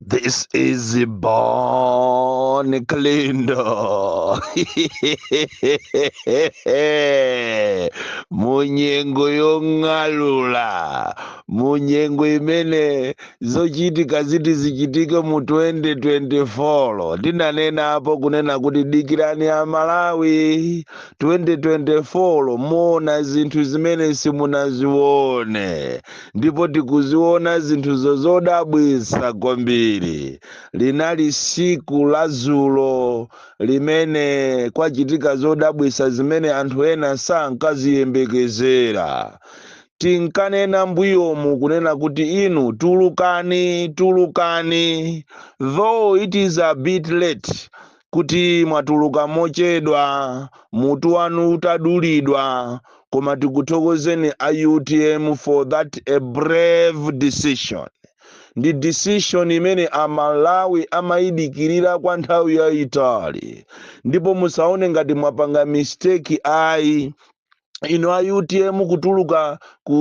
This is Bon Kalindo. Munyengo yong'alula. Munyengo imene zochitika ziti zichitike mu 2024. Ndinanenapo kunena kuti dikirani a Malawi 2024 muona zinthu zimene simunazione. ndipo tikuziona zinthuzo zodabwitsa kwambiri linali siku la zulo limene kwachitika zodabwitsa zimene anthu ena sankaziyembekezera tinkanena mbuyomu kunena kuti inu tulukani tulukani though it is a bit late kuti mwatuluka mochedwa mutu wanu utadulidwa koma tikuthokozeni a utm for that a brave decision ndi decision imene amalawi amayidikirira kwa nthawi yayitali ndipo musaone ngati mwapanga mistake ayi inu a utm kutuluka ku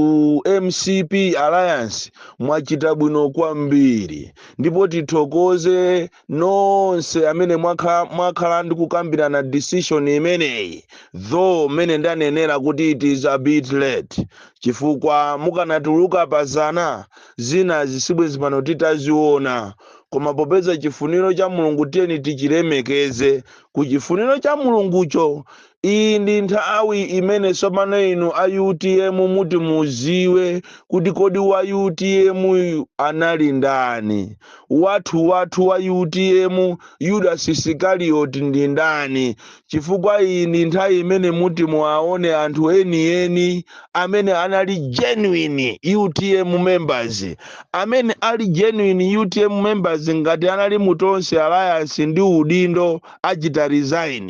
mcp alliance mwachita bwino kwambiri ndipo tithokoze nonse amene mwakhala ndi kukambirana decision imeneyi though mmene ndanenera kuti it is a bit late chifukwa mukanatuluka pazana zina zisibwezi pano titaziona koma popeza chifuniro cha mulungu tiyeni tichilemekeze ku chifuniro cha mulungucho Iyi ndi nthawi imene tsopano inu a utm muti muziwe kuti kodi wa utm anali ndani. Wathu wathu wa utm Yudas Sikarioti ndi ndani chifukwa iyi ndi nthawi imene muti muwaone anthu eni eni amene anali genuine utm members. Amene ali genuine utm members ngati anali mu Tonse Alliance ndi udindo achita resign.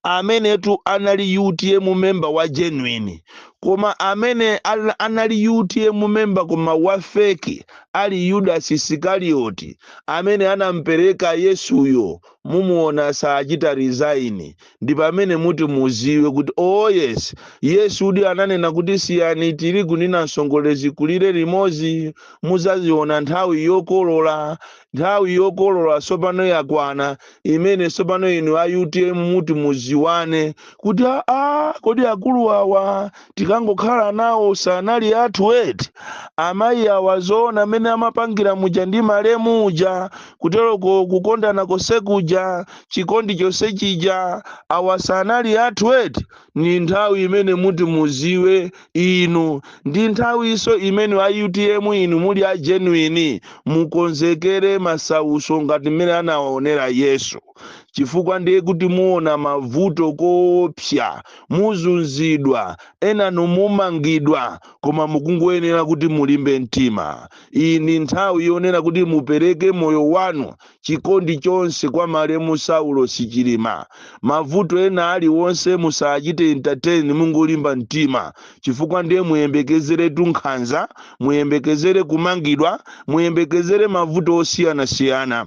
amenetu anali utm member wa genuine koma amene anali utm member koma wa fake ali yudas isikarioti amene anampereka yesuyo mumuona saachita resign ndi pamene muti muziwe kuti oh yes yesu udi ananena kuti siyani tirigu ndi namsongole zikulire limodzi muzaziona nthawi yokolola nthawi yokolola tsopano yakwana imene tsopano inu a utm muti muziwane kuti aa kodi akulu awa tinkangokhala nawo sanali athu eti amayi awa zoona mmene amapangira muja ndi malemu uja kuteroko kukondana konse kuja chikondi chonse chija awa sanali athu eti ni nthawi imene muti muziwe inu ndi nthawinso imene a utm inu muli a genuine mukonzekere masauso ngati mmene anawaonera yesu chifukwa ndiye kuti muona mavuto koopsa muzunzidwa enanu mumangidwa koma mukungoyenera kuti mulimbe mtima iyi ndi nthawi yonena kuti mupereke moyo wanu chikondi chonse kwa malemu Saulosi Chilima. Mavuto ena aliwonse musachite entertain mungolimba mtima chifukwa ndiye muyembekezeretu nkhanza, muyembekezere kumangidwa, muyembekezere mavuto osiyanasiyana.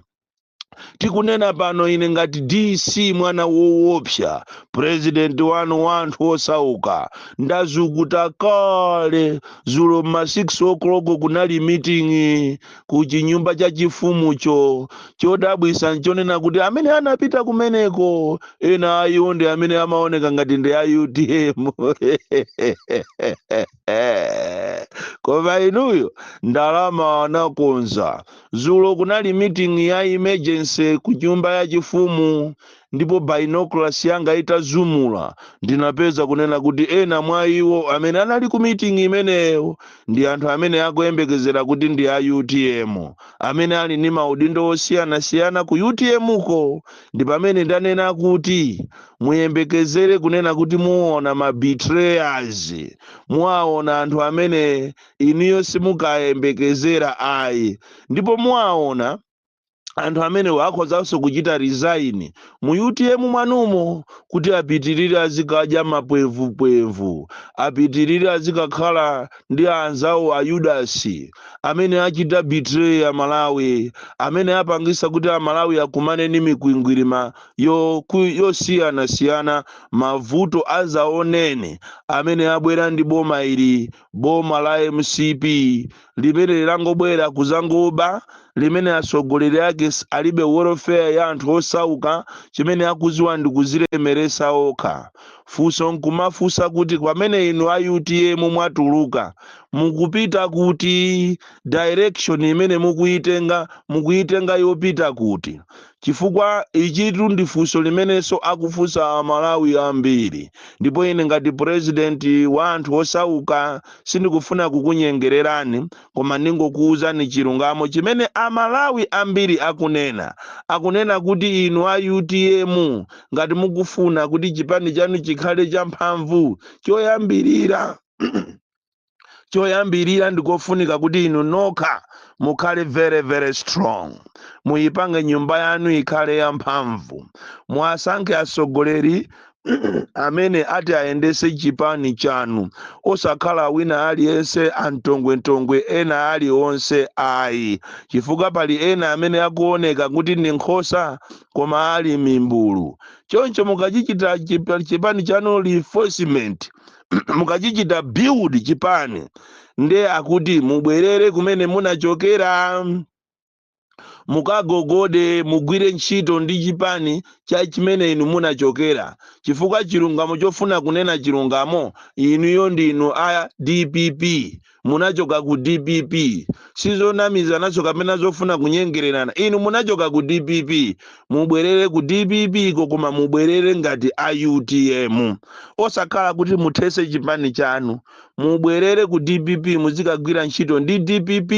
Tikunena pano ine ngati DC mwana woopsa, president wanu wa anthu osauka, ndazukuta kale. Zulo m'ma 6 o'clock kunali meeting ku chinyumba chachifumucho. Chodabwisa nchonena kuti amene anapita kumeneko ena a iwo ndi amene amaoneka ngati ndi a utm koma inuyo ndalama anakonza. Zulo kunali meeting ya emergency ku nyumba yachifumu Ndipo binoculars yanga itazumula, ndinapeza, kunena kuti, ena mwa iwo amene anali ku meeting imeneyo ndi anthu amene akuyembekezera kuti ndi a utm, amene ali ndi maudindo osiyanasiyana ku utm ko. Ndi pamene ndanena kuti, muyembekezere kunena kuti muona ma betrayers, muaona anthu amene inuyo simukayembekezera ayi. Ndipo muaona. anthu amenewo akhozanso kuchita resign mu utm mwanumo kuti apitirire azikadya mapwevupwevu apitirire azikakhala ndi anzawo a yudasi amene achita betray a malawi amene apangisa kuti a malawi akumane ndi mikwingwirima yosiyanasiyana mavuto azaoneni amene abwera ndi boma ili boma la mcp limene linangobwera kuzangoba limene atsogoleri ake alibe welfare ya anthu osauka chimene akuziwa ndi kuzilemeresa okha funso nkumafunsa kuti pamene inu a utm mwatuluka mukupita kuti direction imene mukuyitenga mukuyitenga yopita kuti Chifukwa ichitu ndi funso limenenso akufunsa a Malawi ambiri. Ndipo ine ngati president wa anthu osauka sindikufuna kukunyengererani koma ndingokuuzani chilungamo chimene a Malawi ambiri akunena. Akunena kuti inu a utm ngati mukufuna kuti chipani chanu chikhale cha mphamvu, choyambirira, choyambirira ndikofunika kuti inu nokha mukhale very very strong muyipange nyumba yanu ikhale yamphamvu muwasankhe atsogoleri amene ati ayendese chipani chanu osakhala wina aliyense antongwentongwe ena ali onse ayi chifukwa pali ena amene akuoneka kuti ndi nkhosa koma ali mimbulu choncho mukachichita chipani chanu reinforcement mukachichita build chipani nde akuti mubwerere kumene munachokera mukagogode mugwire ntchito ndi chipani cha chimene inu munachokera chifukwa chilungamo chofuna kunena chilungamo inuyo ndinu a dpp munachoka ku dpp sizonamizananso kapena zofuna kunyengererana inu munachoka ku dpp mubwerere ku dpp ko koma mubwerere ngati a utm osakhala kuti muthese chipani chanu mubwerere ku dpp muzikagwira ntchito ndi dpp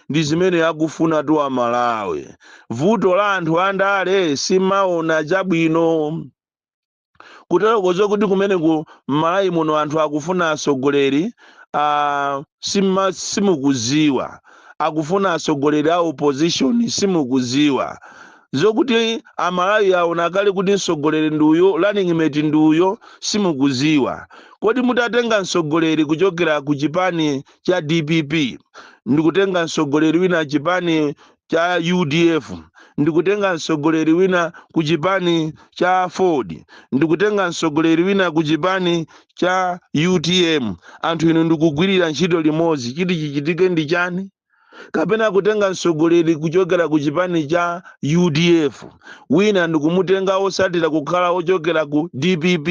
ndi zimene akufuna tu amalawi vuto la anthu andale simaona chabwino kuterokozo kuti kumeneku m'malawi muno anthu akufuna atsogoleri a simukuziwa akufuna atsogoleri a opposition simukuziwa zokuti amalawi aona kale kuti mtsogoleri ndi uyo running mate ndi uyo simukuziwa kodi mutatenga mtsogoleri kuchokera ku chipani cha dpp ndikutenga mtsogoleri wina chipani cha udf ndikutenga mtsogoleri wina ku chipani cha aford ndikutenga mtsogoleri wina ku chipani cha utm anthu inu ndikugwirira ntchito limodzi chiti chichitike ndi chani kapena kutenga mtsogoleri kuchokera ku chipani cha udf wina ndikumutenga osatira kukhala ochokera ku dpp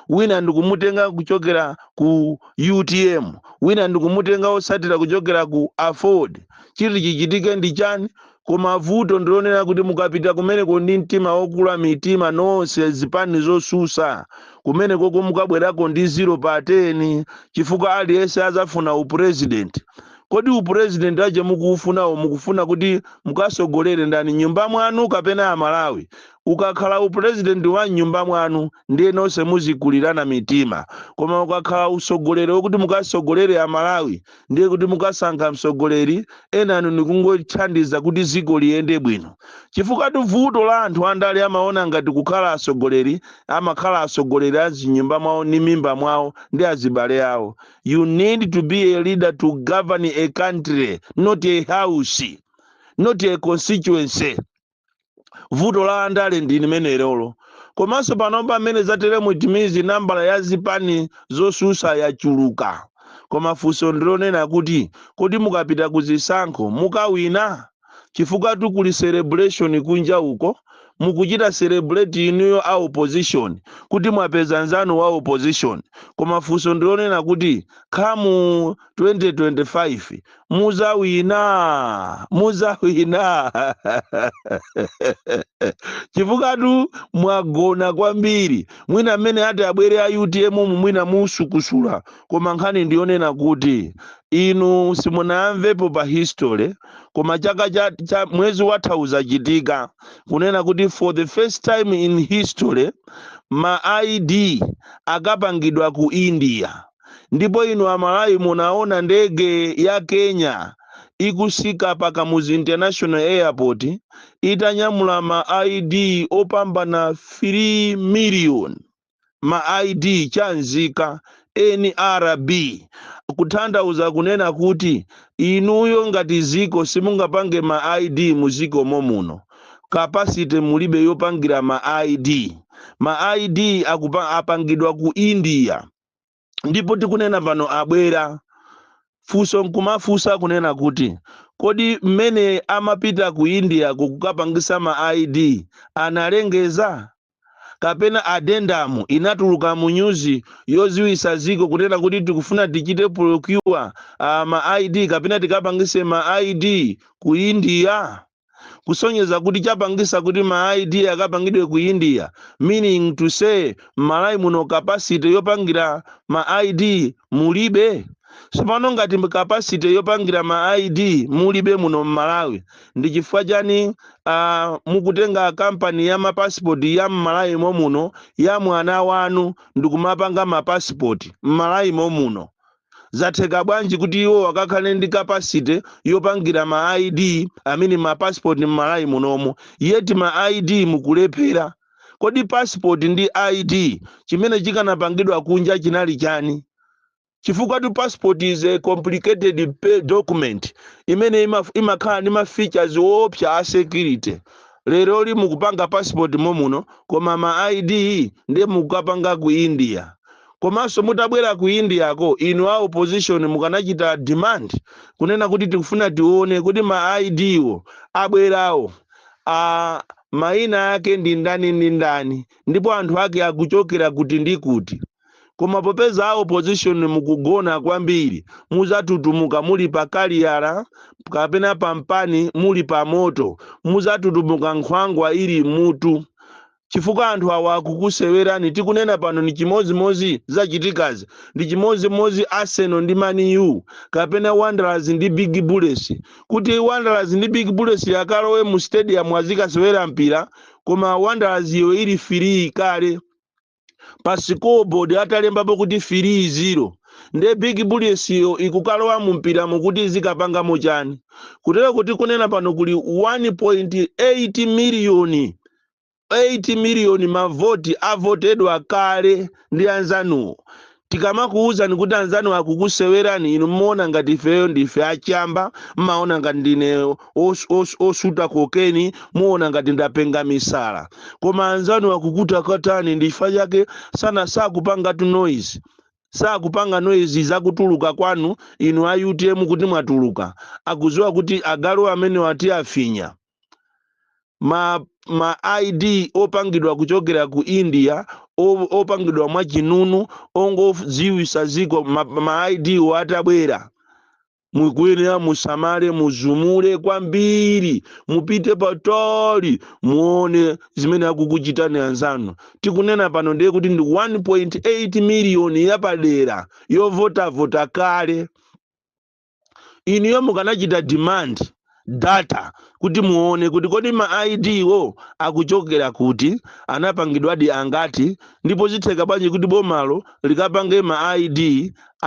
wina ndikumutenga kuchokera ku utm wina ndikumutenga osatira kuchokera ku aford chiti chichitike ndi chani koma vuto ndilonena kuti mukapita kumeneko ndi mtima wokula mitima nonse zipani zosusa kumenekoko mukabwerako ndi ziro pa 10 chifukwa aliyense azafuna upurezidenti kodi upurezidenti wake mukuufunawo mukufuna kuti mukasogolere ndani m'nyumba mwanu kapena amalawi ukakhala upurezidenti wa m'nyumba mwanu ndiye nonse muzikulirana mitima koma ukakhala usogoleri wokuti mukasogolere amalawi ndiye kuti mukasankha mtsogoleri enanu nikungothandiza kuti ziko liyende bwino chifukwa tuvuto la anthu andale amaona ngati kukhala atsogoleri amakhala atsogoleri a m'zinyumba mwawo ndi mimba mwawo ndi azibale awo you need to be a leader to govern a country not a house not a constituency vuto la andale ndi limenelolo komanso panopa mmene zatere mu timizi nambala ya zipani zosusa yachuluka koma funso ndilonena kuti kodi mukapita ku zisankho mukawina chifukwa tu kuli celebration kunja uko mukuchita celebrate inuyo a opposition kuti mwapeza nzanu wa opposition koma funso ndilonena kuti khamu 2025 muzawina muzawina chifukwatu mwagona kwambiri mwina mmene ati abwere a utm mu mwina musukusula koma nkhani ndiyonena kuti inu simunamvepo pa history koma chaka cha, cha mwezi watha uzachitika kunena kuti for the first time in history ma id akapangidwa ku india ndipo inu amalawi munaona ndege ya kenya ikusika pa kamuzu international airport itanyamula ma id opambana 3 million ma id cha nzika nrb kutanthauza kunena kuti inuyo ngati ziko simungapange ma id muziko momuno capacity mulibe yopangira ma id ma id akupa, apangidwa ku india ndipo tikunena pano abwera funso nkumafunsa kunena kuti kodi mmene amapita ku india kukukapangisa ma id analengeza kapena addendum inatuluka mu nyuzi yoziwisa ziko kunena kuti tikufuna tichite procure uh, ma id kapena tikapangise ma id ku india kusonyeza kuti chapangisa kuti ma id akapangidwe ku india meaning to say mmalawi muno capacity yopangira ma id mulibe sopano ngati capacity yopangira ma id mulibe muno mmalawi ndi chifukwa chani uh, mukutenga kampani ya mapasipoti ya mmalawi mo muno ya mwana wanu ndikumapanga mapasipoti mmalawi mo muno zatheka bwanji kuti iwowo akakhale ndi capacity yopangira ma id i mean ma passport mmalawi munomo yet ma id mukulephera kodi passport ndi id chimene chikanapangidwa kunja chinali chani chifukwa tu passport is a complicated pe- document imene ima- imakhala ndi ma features woopsa a security lero li mukupanga passport momuno koma ma id ndiye mukukapanga ku india Komanso mutabwera ku India ko inu a opposition mukanachita demand kunena kuti tikufuna tione kuti ma ID wo abwerawo maina ake ndi ndani ndi ndani ndipo anthu ake akuchokera kuti ndi kuti. Koma popeza a opposition mukugona kwambiri muzatutumuka muli pa kaliyala kapena pa mpani muli pa moto muzatutumuka nkhwangwa ili m'mutu. chifukwa anthu awa akukusewerani tikunena pano ndi chimodzimodzi zachitikazi ndi chimodzimodzi arsenal ndi man u kapena wanderers ndi big bullets kuti wanderers ndi big bullets yakalowe mu stadium azikasewera mpira koma wanderers iyo ili firii kale pa scoreboard atalembapo kuti firii zero nde big bullets iyo ikukalowa mu mpira mukuti izikapangamo chani kutereku tikunena pano kuli 1.8 miliyoni 8 miliyoni mavoti avotedwa kale ndi anzanuwo. Tikamakuwuzani kuti anzanuwa akukusewerani inu mumaona ngati ifeyo ndife achamba, mmaona ngati ndine os, os, osuta kokeni, muona ngati ndapenga misala. Koma anzanuwo akukutakatani ndi chifukwa chake sana sakupangatu noise. Sakupanga noise zakutuluka kwanu inu a utm kuti mwatuluka. Akudziwa kuti agalu amenewa tiwafinya. ma, ma id opangidwa kuchokera ku india o- opangidwa mwa chinunu ongodziwisa ziko ma, ma id wo atabwera mukuyenera musamale muzumule kwambiri mupite patali muone zimene akukuchitirani anzanu tikunena pano ndiye kuti ndi 1.8 miliyoni yapadera yovotavota kale inuyo mukanachita demand data kuti muone kuti kodi ma id wo akuchokera kuti anapangidwadi angati ndipo zikutheka bwanji kuti bomalo likapange ma id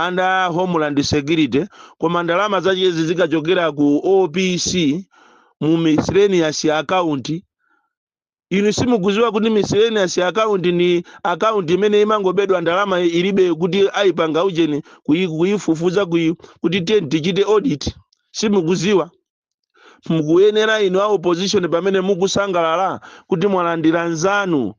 under homeland security koma ndalama zachezi zikachokera ku opc mu miscellaneous account inu simukuziwa kuti miscellaneous account ni account imene imangobedwa ndalama ilibe kuti ayipanga ujeni kuyi- kuyifufuza kuyi kuti tiyeni tichite audit simukuziwa mukuyenera inu a opposition pamene mukusangalala kuti mwalandira nzanu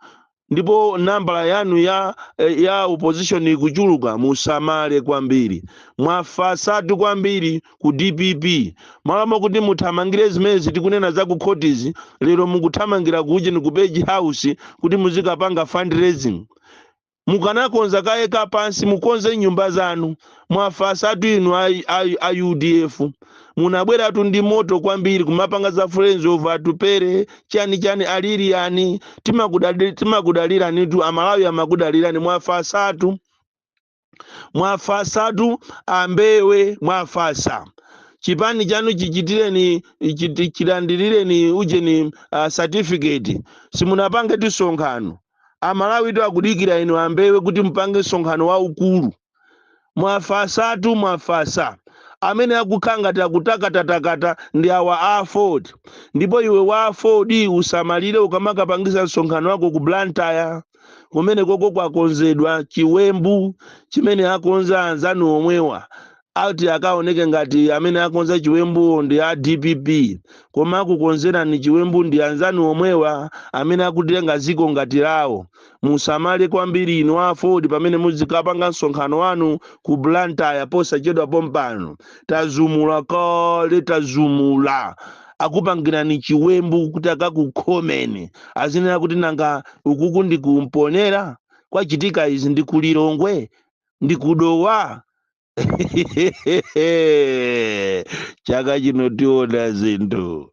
ndipo nambala yanu ya eh, ya opposition ikuchuluka musamale kwambiri mwafasatu kwambiri ku dpp malo mokuti muthamangire zimenezi tikunena za ku khotizi lero mukuthamangira ku ujeni ku page house kuti muzikapanga fundraising mukanakonza kaye kapansi mukonze nyumba zanu mwafasatu inu a, a, a udf munabweratu ndi moto kwambiri kumapanga za friends of atupere chani chani aliriyani timakudaliranitu amalawi amakudalirani mwafasatu mwafasatu ambewe mwafasa chipani chanu chichitireni chiti- chilandirireni ujeni uh, certificate simunapangetu msonkhano amalawitu akudikira inu ambewe kuti mupange msonkhano waukulu mwafasatu mwafasa amene akukhala ngati akutakatakata ndi awa a aford ndipo iwe wa aford usamalire ukamakapangisa msonkhano wako ku blantyre kumene koko kwakonzedwa chiwembu chimene akonza anzanu omwewa ati akaoneke ngati amene akonza chiwembuwo ndi a dpp koma akukonzerani chiwembu ndi anzanu omwewa amene akutenga ziko ngati lawo musamale kwambiri inu aford pamene muzikapanga msonkhano wanu ku blantyre posachedwa pompano tazumula kale tazumula akupangirani chiwembu kuti akakukhomeni azinena kuti nanga ukuku ndi ku mponela kwachitika izi ndi ku lilongwe ndi ku dowa chaka chino tiona zinthu